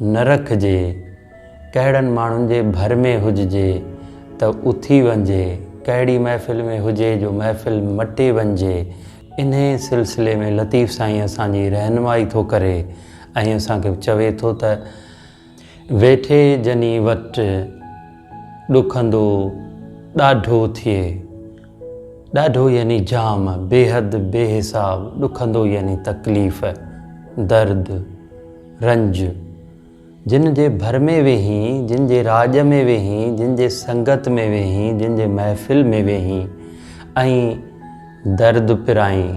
نه رکجي، ڪهڙن ماڻهن جي ڀر ۾ هججي ته اٿي وڃجي، ڪهڙي محفل ۾ هجي جو محفل مٽي وڃجي، انهيء سلسلي ۾ لطيف سائين اسان جي رهنمائي ٿو ڪري ۽ اسان کي چوي ٿو ته. ويٺي جني وٽ، ڏکندو ڏاڍو ٿئي. ڏاڍو يعني جام، بيحد، بي حساب، ڏکندو يعني تڪليف، درد. رنج، جن جي ڀر ۾ ويهين، جن جي راڄ ۾ ويهين، جن جي سنگت ۾ ويهين، جن جي محفل ۾ ويهين ۽ درد پرائين،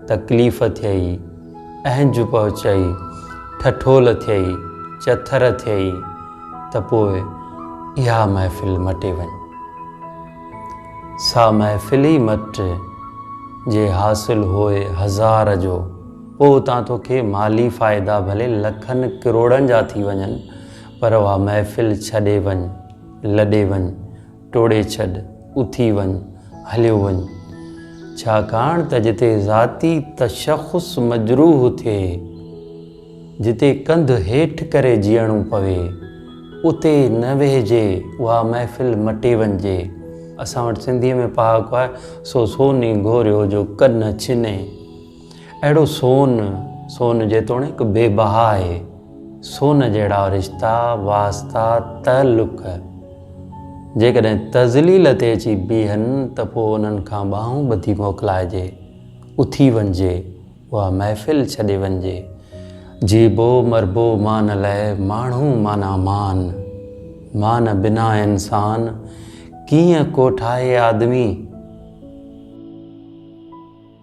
تڪليف ٿيئي، اهنج پهچئي، ٺٺول ٿيئي، چٿر ٿيئي ته پوء اها محفل مٽي وڃ. سا محفل ئي مٽ، جي حاصل هوء هزار جو. پوء اتان توکي مالي فائدا ڀلي لکن ڪروڙن جا ٿي وڃن پر اها محفل ڇڏي وڃ، لڏي وڃ، ٽوڙي ڇڏ، اٿي وڃ، هليو وڃ. ڇاڪاڻ ته جتي ذاتي تشخص مجروح ٿئي، جتي ڪنڌ هيٺ ڪري جيئڻو پوي، اتي نه ويهجي، اها محفل مٽي وڃجي. اسان وٽ سنڌيء ۾ پهاڪو آهي، سو سوني گهوريو جو ڪن ڇني، اهڙو سون، سون جيتوڻيڪ بي بها آهي، سون جهڙا رشتا، واسطا، تعلق جيڪڏهن تذليل تي اچي بيهن ته پوء انهن کان ٻانهون ٻڌي موڪلائجي، اٿي وڃجي، اها محفل ڇڏي وڃجي، جيبو مربو مان لئه ماڻهو معنيٰ مان، مان بنا انسان ڪيئن ڪوٺائي آدمي؟